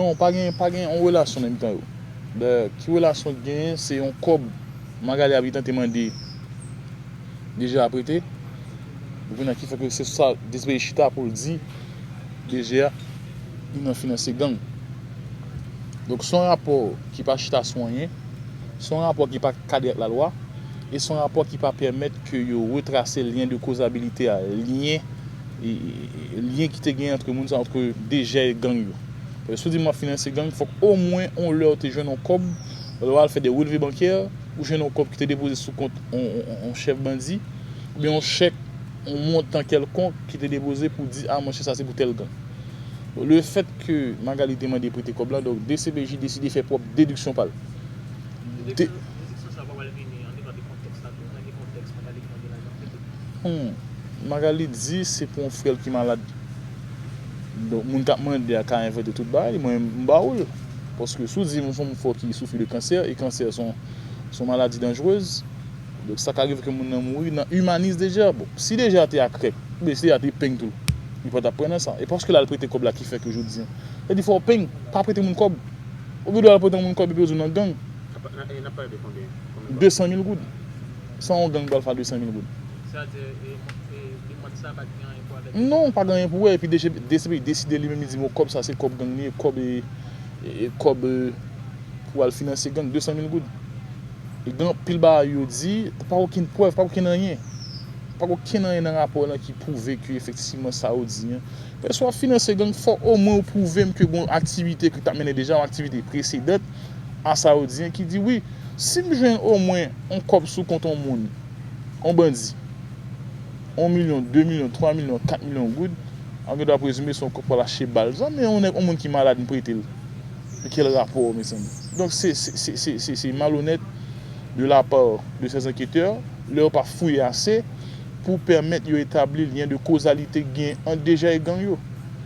Non pa gen pa gen yon relasyon nan mitan yo dayè ki relasyon ki genyen se yon kòb Magalie ap gentan te mande DG a prete ou konnya ki fè ke se sou sa Desperice chita poul di DG a li nan finanse gang donk son rapò ki pa chita sou anyen son rapò ki pa kadre ak lalwa e son rapò ki pa pèmèt ke yo retrase lyen de kozabilite a lyen lyen ki te gen antre moun sa antre dejè e gang yo. Paske si w di mwen ap finanse gang, fòk omwen on lè ou te jwenn on kòb, lè w al fè de relve bankè, ou jwenn on kòb ki te depoze sou kont on chèf bandi, oubyen on chèk, on montan kèlkonk ki te depoze pou di a monchè sa se pou tèl gang. Bon, le fèt ke Magalie te mande prete kòb la, donk dcpj deside fè pwòp dediksyon pa l. Dediksyon sa pa pral vini andedan de kontèks la tou, nan ki kontèks Magalie te mande lajan prete? Humm Magalie di se pou yon frèl ki malad donk moun kap mande a ka envante tout bagay mwen menm m ba ou l paske si w di m son moun fò ki soufri de kansè e kansè son son maladi danjrez donk sa ka rive ke moun nan mouri nan imanize deja bon si deja te akrèk oubyen si deja te peng tou li pa tap pran nan sa e paske l al prete kòb la ki fè ke jodi an sa di fò w peng pa prete moun kòb ou gen dwa al prete yon moun kòb epi yo di w nan gang 200 mil goud. San yon gang pral fè a 200 mil goud. Se a di demand sa pa gen anyen pou wè avèk DCPJ? Non, pa gen anyen pou wè, epi DCPJ deside li menm li di bon kòb sa se kòb gang li ye, kòb kòb pou al finanse gang 200 mil goud. E gen anpil bagay yo di, pa gen okenn prèv, pa gen okenn anyen. Pa gen okenn anyen nan rapò lan ki pwouve ke efektivman sa yo di an. Lè si wap finanse gang fò omwen ou pwouvem ke gen yon aktivite ke w tap mennen deja, yon aktivite presedant a sa yo di an ki di wi. Si m jwenn omwen on kòb sou kont on moun, on bandi, on milyon, de milyon, twa milyon, kat milyon goud, an gen dwa prezime se on kòb pral achte bal zam, men on nèg, on moun ki malad m prete l, men kèl rapò mezanmi? Donk se, se, se, se, se, se malonèt de la part de ces enquêteurs lè yo pa fouye ase pou pèmèt yo etabli lyen de kozalite ki gen ant Dejè e gang yo.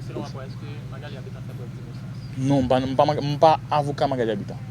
Selon rapò a, eske Magalie Habitant fè prèv d'innocence? Non, m pa, m pa, m pa avoka Magalie Habitant.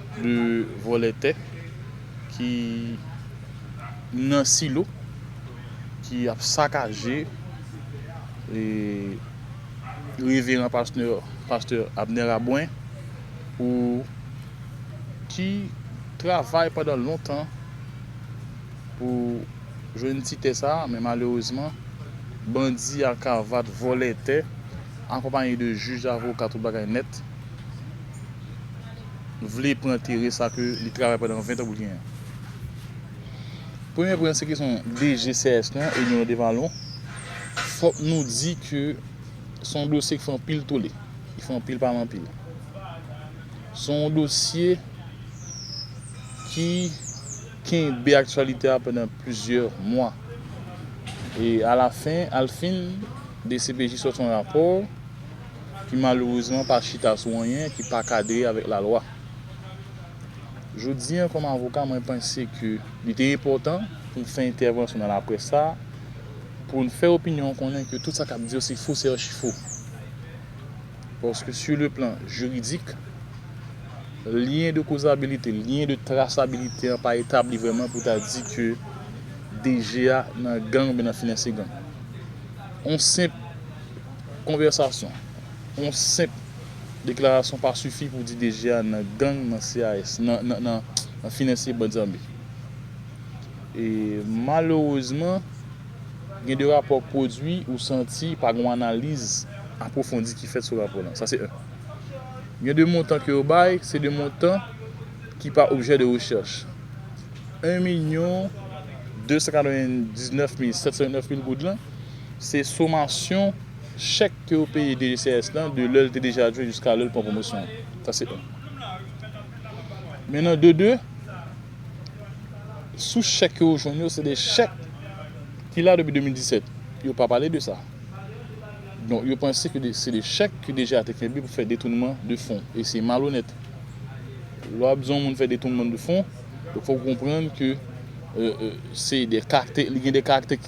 2 vòlè tè ki nan silo ki ap sakaje reveran pastè Abner Rabouin pou ki travay pandan lontan pou jwenn ti tè sa men malerezman bandi ak avat vòlè tè akonpaye de jij avoka tout bagay nèt. vle pran tere sa ke li travay pandan 20 an pou l genyen. Premye pwen se kesyon DG CRS nou an, Edmond Devalon, fòk nou di ke se yon dosye ki fè anpil tole, ki fè anpil pale anpil. Se yon dosye ki kenbe aktyalite a pandan plizyè mwa. E alafen, alfin, dcpj sòti yon rapò, ki malerezman pa chita sou anyen ki pa kadre avèk lalwa. Jodi an kòm avoka mwen panse ke li te enpòtan pou m fè entèvansyon nan laprès sa a pou n fè opinyon an konnen ke tout sa k ap di yo se fo se achi fo. Paske su le plan jiridik, lyen de kozabilite, lyen de trasabilite an pa etabli vrèman pou ta di ke DG a nan gang oubyen nan finanse gang. On senp. Konvèsasyon, Yon senp deklarasyon pa sifi pou di DG a nan gang nan CAS nan finansye band zame. E malerezman gen de rapò k pwodwi ou santi pa gen yon analiz apwofondi ki fèt sou rapò lan. Sa se 1. Gen de montan ke yo bay, se de montan ki pa objè de rechèch. 1 milyon 299 mil 729 mil goud lan, se somasyon chèk ke yo peye DGCS lan de lè l te deja ap jwe jiska lè l pran pwomosyon an. Sa se 1. Men nan de 2, sou chèk ke yo jwenn yo, se de chèk ki la depi 2017. Yo pa pale de sa. Donk yo panse ke se de chèk ki deja te kenbe pou fè detounman de fon. E se malonèt. Lè w ap di yon moun fè detounman de fon, fòk ou konprann ke se de karakte, li gen de karakte.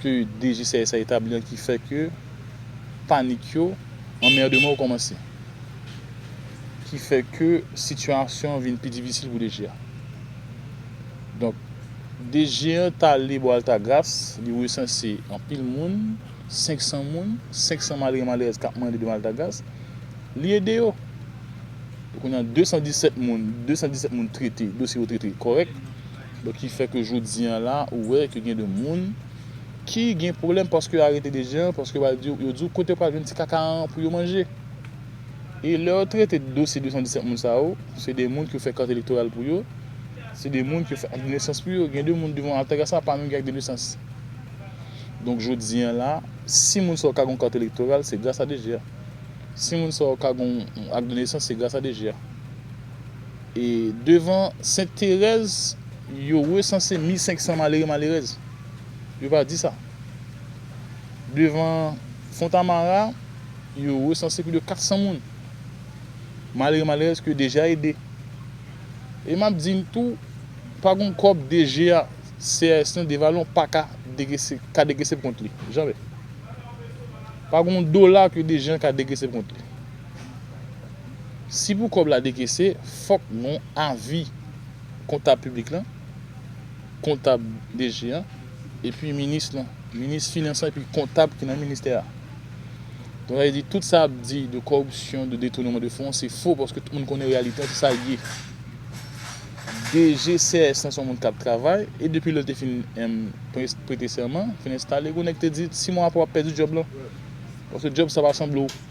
ke DGCSA etabli an ki fè ke panik yo, anmèrdman yo kòmanse. Ki fè ke sitiyasyon an vin pi difisil pou DG a. Donk, DG an t ale bò Altagras, li resanse anpil moun, 500 moun, 500 malere malerèz k ap mande devan Altagras, li ede yo. Kounye a 217 moun, 217 moun trete, dosye yo trete kòrèk. Donk ki fè ke jodi an la ou wè ke gen de moun ki gen pwoblèm paske yo arete de jen an paske wal di yo di w kote yo pral jwenn ti kaka an pou yo manje. E lè yo trete dosye 217 moun sa yo, se de moun ke yo fè kat elektoral pou yo, se de moun ke yo fè ak de nesans pou yo. Gen de moun devan Altagras la pa menm gen ak de nesans. Donk jodi an la, si moun sa yo ka gen yon kat elektoral se gras a DG a. Si moun sa yo ka gen yon ak de nesans se gras a DG a. Devan Sent Terèz, yo resanse 1500 malere malerèz. Yo pa di sa. Devan Fontamara, yo resanse plis de 400 moun, malere malerèz ke yo deja ede. E map di n tou, pa gon kòb DG a, CAS lan devalon pa ka dekese, ka dekese pou kont li. Jamè. Pa gon dola ke DG an ka dekese pou kont li. Si pou kòb la dekese fòk nou avi kontab piblik lan, kontab DG an, epi minis lan, minis finans lan epi kontab ki nan ministè a. Donk sa vle di tout sa y ap di de kòripsyon, de detouneman de fon se fo paske tout moun konnen reyalite an se sa l ye. DG CRS lan se yon moun k ap travay e depi lè l te fin prete sèman, fin enstale, gen yon nèg ki te di si mwa aprè w ap pèdi djòb lan paske djòb sa pa sanble w.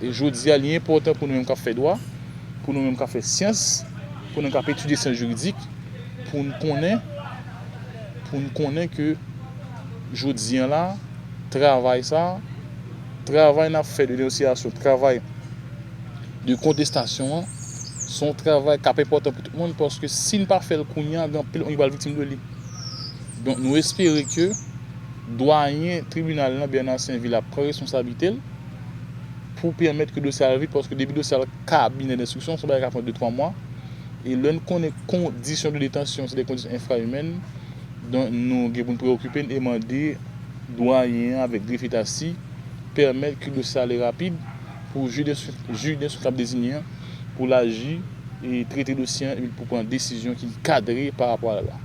Jodi a, li enpòtan pou nou menm k ap fè dwa, pou nou menm k ap fè syans, pou nou menm k ap etidye syans jiridik, pou n konnen, pou n konnen ke jodi an la, travay sa a, travay n ap fè de denonsiyasyon, travay de kontestasyon an, se yon travay k ap enpòtan pou tout moun paske si n pa fè l kounye a, gen anpil moun ki pral viktim de li. Donk nou espere ke. Dwayen tribinal lan Bernard Sainville ap pran responsablite l pou pèmèt ke dosye a al vit paske depi dosye al kabinè denstriksyon se yon bagay k ap pran 2, 3 mwa e lè n konnen kondisyon de detansyon se de kondisyon enfraimèn donk nou gen pou n preokipe n e mande Dwayen an avèk Grefye Tassy pèmèt ke dosye a ale rapid pou jij denstriksyon k ap dezinye an pou l aji e trete dosye an epi pou l pran desizyon ki kadre parapò a la lwa.